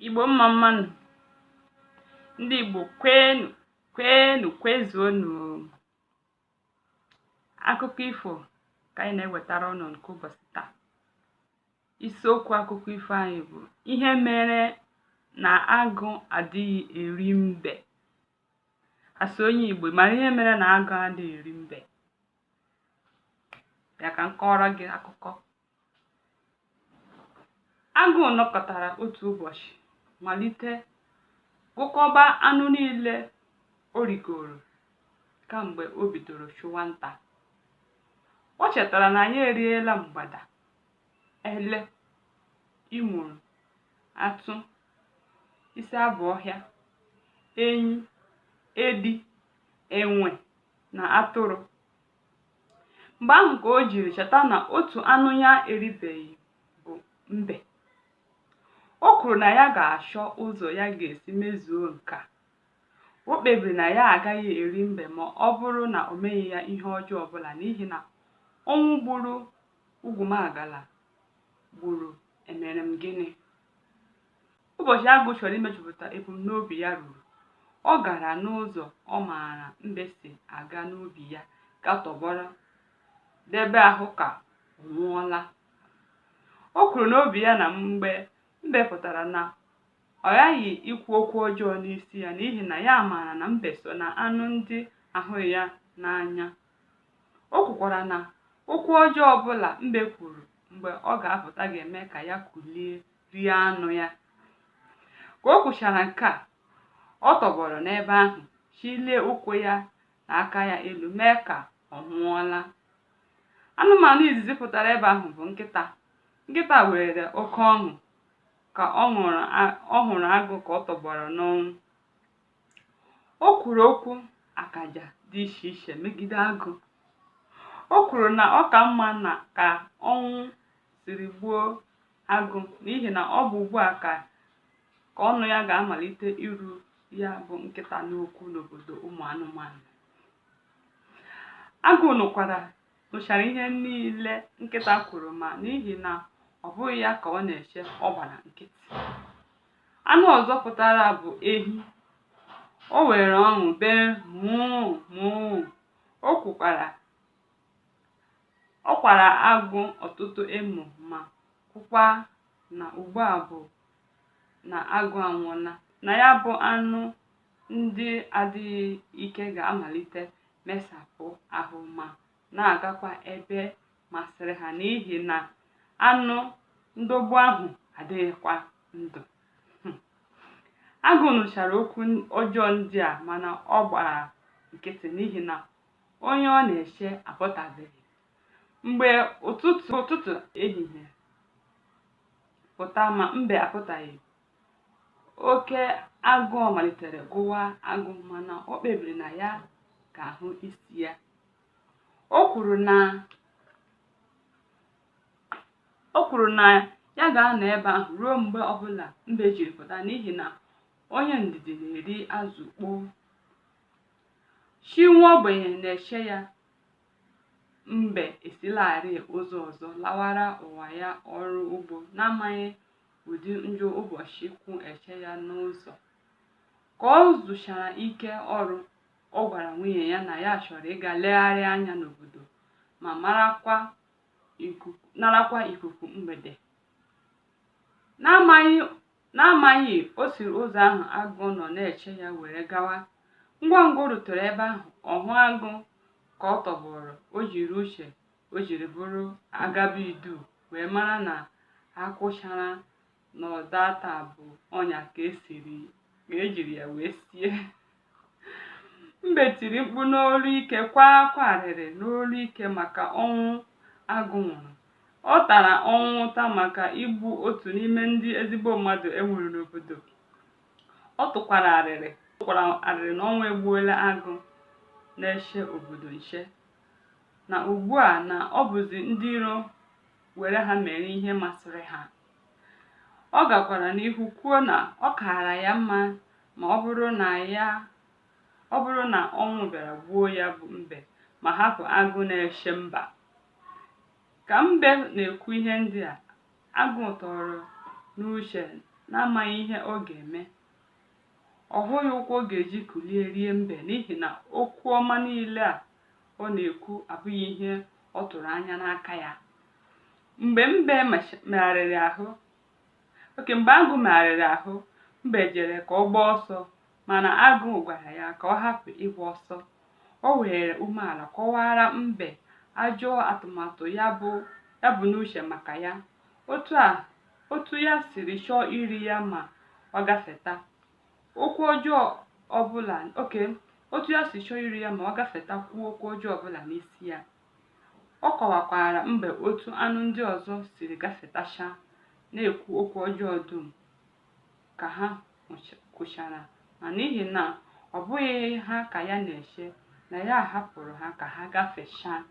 igbo mma mma nụ ndị igbo kwenu kwenu kwezuonu akụkọ ifo ka anyị na-ewetara unu nke ụbọchị taa isiokwu akụkọ ifo anyị bụ ihe mere na agụ adịghị eri mbe a sị onye igbo mara ihe mere na agụ adịghị eri mbe bịa ka m kọọrọ gị akụkọ Agụ nọkọtara otu ụbọchị malite gụkọba anụ niile o rigoro kamgbe o bidoro chụwa nta. O chetara na ya eriela mgbada, ele, imuru, atụ, isi abụ ọhịa, enyi, edi, enwe na atụrụ mgbe ahụ ka o jiri cheta na otu anụ ya eribeghị bụ mbe o kwuru na ya ga-achọ ụzọ ya ga-esi mezuo nke a o kpebiri na ya agaghị eri mbe ma ọ bụrụ na o meghị ya ihe ọjọọ ọbụla n'ihi na ọnwụ gburu ugwumagala gburu emere m gịnị Ụbọchị Agụ chọrọ imejupụta ebumnobi ya ruru, ọ gara n'ụzọ ọ maara mbe si aga n'ubi ya gaa tọgbọrọ debe ahụ ka ọ nwụọla. O kwuru n'obi ya na mgbe mbe pụtara na ọ ghaghị ikwu okwu ọjọọ n'isi ya n'ihi na ya maara na mbe so na anụ ndị ahụghị ya n'anya. O kwukwara na okwu ọjọọ ọbụla mbe kwuru mgbe ọ ga-apụta ga-eme ka ya kulie rie anụ ya ka o kwuchara nke a ọ tọgbọrọ n'ebe ahụ chilie ụkwụ ya na aka ya elu mee ka ọ nwụọla anụmanụ izizi pụtara ebe ahụ bụ nkịta nkịta nwere oke ọṅụ ka ọ hụrụ agụ ka ọ tọgbọrọ n'ọnwụ o kwuru okwu akaja dị iche iche megide agụ o kwuru na ọ ka mma na ka ọnwụ siri gbuo agụ n'ihi na ọ bụ ugbu a ka ka ọnụ ya ga-amalite iru ya bụ nkịta n'okwu n'obodo ụmụ anụmanụ agụ nụkwara nụchara ihe niile nkịta kwuru ma n'ihi na ọ bụghị ya ka ọ na-eche ọ gbara nkịtị anụ ọzọ pụtara bụ ehi o were ọṅụ bee mụụ mụụ o kwukwara Ọ kwara agụ ọtụtụ emo ma kwukwa na ugbu a bụ na agụ anwụọla, na ya bụ anụ ndị adịghị ike ga-amalite mesapụ ahụ ma na-agakwa ebe masịrị ha n'ihi na anụ ndogbu ahụ adịghịkwa ndụ. Agụ nụchara okwu ọjọọ ndị a mana ọ gbara nkịtị n'ihi na onye ọ na-eche apụtabeghị mgbe ụtụtụ ụtụtụ ehihie pụta ma mbe apụtaghị oke agụụ malitere gụwa agụ mana o kpebiri na ya ga-ahụ isi ya o kwuru na o kwuru na ya ga-anọ ebe ahụ ruo mgbe ọbụla mbe jiri pụta n'ihi na onye ndidi na-eri azụ ukpoo Chi nwa ogbenye na-eche ya Mbe esilarị ụzọ ọzọ lawara ụwa ya ọrụ ugbo n'amaghị ụdị njọ ụbọchị kwụ eche ya n'ụzọ. Ka o zuchara ike ọrụ, ọ gwara nwunye ya na ya chọrọ ịga legharị anya n'obodo ma marakwa ikuku- narakwa ikuku mgbede. N'amaghị N'amaghị, o siri ụzọ ahụ agụ nọ na-eche ya were gawa. Ngwa ngwa o rutere ebe ahụ, ọ hụ agụ ka ọ tọgbọrọ, o jiri uche o jiri bụrụ agaba idu wee mara na akwụchara na ọdata bụ ọnya ka esiri ka ejiri ya wee sie. mbe tiri mkpu n'olu ike kwaa akwa arịrị n'olu ike maka ọnwụ agụ nwụrụ ọ tara ọnwụ ụta maka igbu otu n'ime ndị ezigbo mmadụ e nwere n'obodo ọ tụkwara arịrị tụkwara arịrị na ọnwụ egbuola agụ na-eche obodo nche na ugbu a na ọ bụzi ndị iro were ha mere ihe masịrị ha Ọ gakwara n'ihu kwuo na ọ kaara ya mma ma ọ bụrụ na ya ọ bụrụ na ọnwụ bịara gbuo ya bụ mbe ma hapụ agụ na-eche mba. Ka mbe na-ekwu ihe ndị a, agụ tọrọ n'uche n'amaghị ihe ọ ga-eme. Ọ hụghị ụkwụ ọ ga-eji kulie rie mbe n'ihi na okwu ọma niile a ọ na-ekwu abụghị ihe ọ tụrụ anya n'aka ya. mgbe mbe macha- megharịrị ahụ oke mgbe agụ megharịrị ahụ mbe jere ka ọ gbaa ọsọ mana agụ gwara ya ka ọ hapụ ịgba ọsọ o were umeala kọwara mbe ajọ atụmatụ ya bu ya bu n'uche maka ya otu a otu ya siri chọọ iri ya ma ọ gafeta okwu ọjọọ ọbụla oke otu ya si chọọ iri ya ma ọ gafeta kwuo okwu ọjọọ ọbụla n'isi ya Ọ kọwakwara mbe otu anụ ndị ọzọ siri gafetacha na-ekwu okwu ọjọọ dum ka ha kwuchara ma n'ihi na ọ bụghị ha ka ya na-eche na ya hapụrụ ha ka ha gafechaa.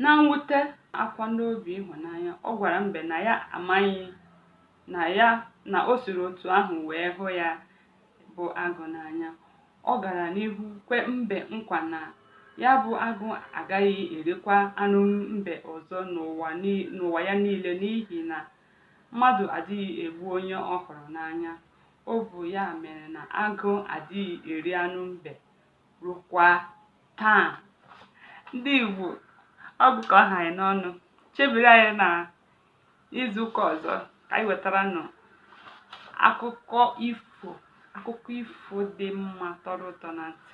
Na mwute akwa n'obi ịhụnanya, ọ gwara mbe na ya amaghị na o siri otu ahụ wee hụ ya bụ agụ n'anya ọ gara n'ihu kwe mbe nkwa na ya bụ agụ agaghị erikwa anụ mbe ọzọ n'ụwa ya niile n'ihi na mmadụ adịghị egbu onye ọ hụrụ n'anya ọ bụ ya mere na agụ adịghị eri anụ mbe rukwa taa ndị igbo ọ bụ ka ọ ha anyị n'ọnụ chebiri anyị na n'izu ụka ọzọ ka anyị wetara unu akụkọ ifo akụkọ ifo dị mma tọrọ ụtọ na ntị